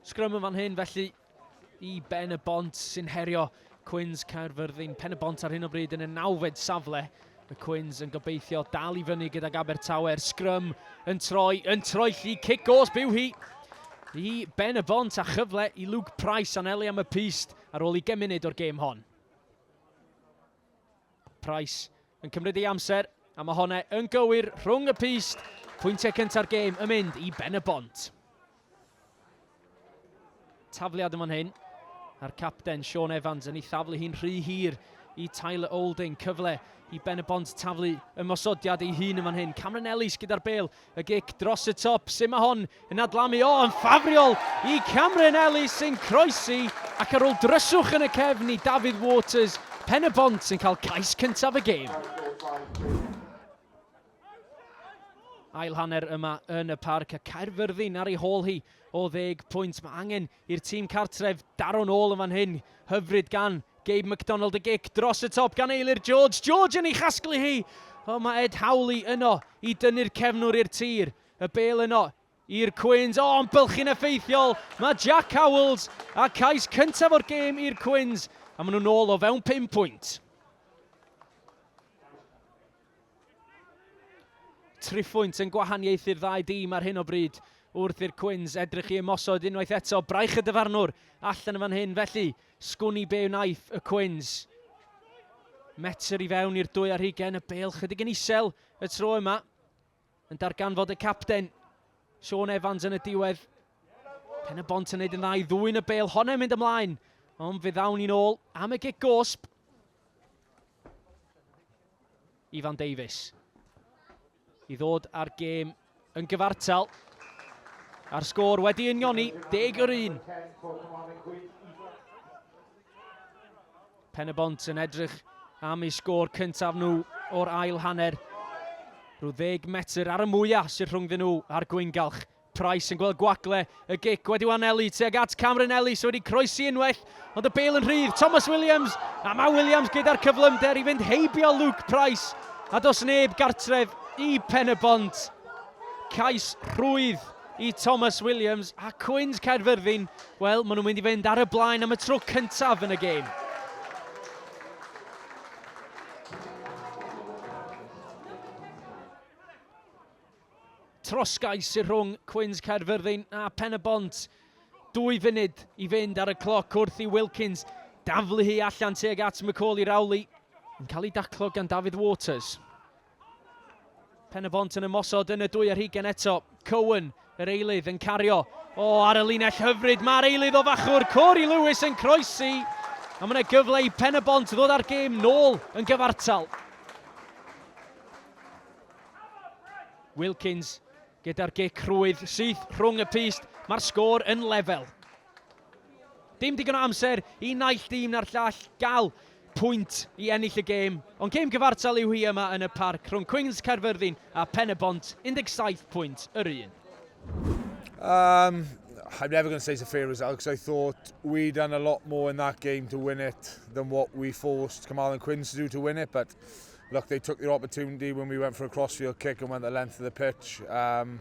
Sgrym yn fan hyn felly i Ben y Bont sy'n herio Cwins Caerfyrddin. Pen y Bont ar hyn o bryd yn y nawfed safle. Y Cwins yn gobeithio dal i fyny gydag Abertawe'r sgrym yn troi, yn troi lli, cic os byw hi i Ben y Bont a chyfle i Luke Price anelu am y pist ar ôl i gemunud o'r gêm hon. Price yn cymryd ei amser, a mae honnau yn gywir rhwng y pist. Pwyntiau cynta'r gêm yn mynd i Ben y Bont. Tafliad yma'n hyn, a'r capten Sean Evans yn ei thaflu hi'n rhy hir i Tyler Olding. Cyfle i Ben y Bont taflu ymosodiad ei hun yma'n hyn. Cameron Ellis gyda'r bel Y gic dros y top, sut mae hon yn adlamu, o yn ffafriol i Cameron Ellis sy'n croesi ac ar ôl dryswch yn y cefn i Dafydd Waters, Pen-y-bont yn cael cais cyntaf y gêm. Ail hanner yma yn y parc a Caerfyrddin ar ei hôl hi o ddeg pwynt. Mae angen i'r tîm cartref daro nôl yn fan hyn. Hyfryd gan Gabe McDonald y gic dros y top gan Eilir George. George yn ei chasglu hi. O, mae Ed Howley yno i dynnu'r cefnwr i'r tir. Y bel yno i'r Cwins. O, yn bylchu'n effeithiol. Mae Jack Howells a cais cyntaf o'r gêm i'r Cwins. A maen nhw'n ôl o fewn 5 pwynt. Triphwynt yn gwahaniaethu'r ddau dîm ar hyn o bryd wrth i'r Cwins edrych i ymosod unwaith eto. Braich y dyfarnwr allan yn fan hyn felly. Sgwn i be wnaeth y Cwins. Metr i fewn i'r dwy ar hugen, y bel chydig yn isel y tro yma. yn darganfod y capten, Sean Evans yn y diwedd. Pen y bont yn neud yn dda i ddwy'n y bel honna'n mynd ymlaen, ond fe ddawn ni'n ôl am y gig gosb. Ifan Davies i ddod ar gêm yn gyfartal. A'r sgôr wedi unioni, deg yr un. Pen-y-bont yn edrych am eu sgôr cyntaf nhw o'r ail hanner. Rhyw ddeg metr ar y mwyaf sydd rhwngddyn nhw a'r gwyngalch. Price yn gweld gwagle, y gic wedi anelu tuag at Cameron Ellis sydd wedi croesi unwaith, ond y bêl yn rhydd, Thomas Williams, a mae Williams gyda'r cyflymder i fynd heibio Luke Price, a dos neb gartref i Pen-y-bont. Cais rhwydd. i Thomas Williams a Cwins Caerfyrddin, wel, maen nhw'n mynd i fynd ar y blaen am y tro cyntaf yn y gêm. Trosgais sy'n rhwng Cwins Caerfyrddin a Pen y Bont. Dwy funud i fynd ar y cloc wrth i Wilkins daflu hi allan teg at Macaulay Rowley. Yn cael ei daclo gan David Waters. Pen y Bont yn ymosod yn y dwy ar hugen eto. Cowan, yr eilydd, yn cario. O, ar y linell hyfryd, mae'r eilydd o fachwr, Corey Lewis yn croesi. A mae'n gyfle i Pen y Bont ddod â'r gêm nôl yn gyfartal. Wilkins gyda'r gic rhwydd syth rhwng y pist. Mae'r sgôr yn lefel. Dim digon o amser i naill dîm na'r llall gael pwynt i ennill y gêm, ond gêm gyfartal yw hi yma yn y Parc rhwng Cwings Caerfyrddin a Phen-y-bont, 17 pwynt yr un. Um, I'm never going to say it's a fair result because I thought we done a lot more in that game to win it than what we forced Kamal and Quins to do to win it. But look, they took their opportunity when we went for a crossfield kick and went the length of the pitch. Um,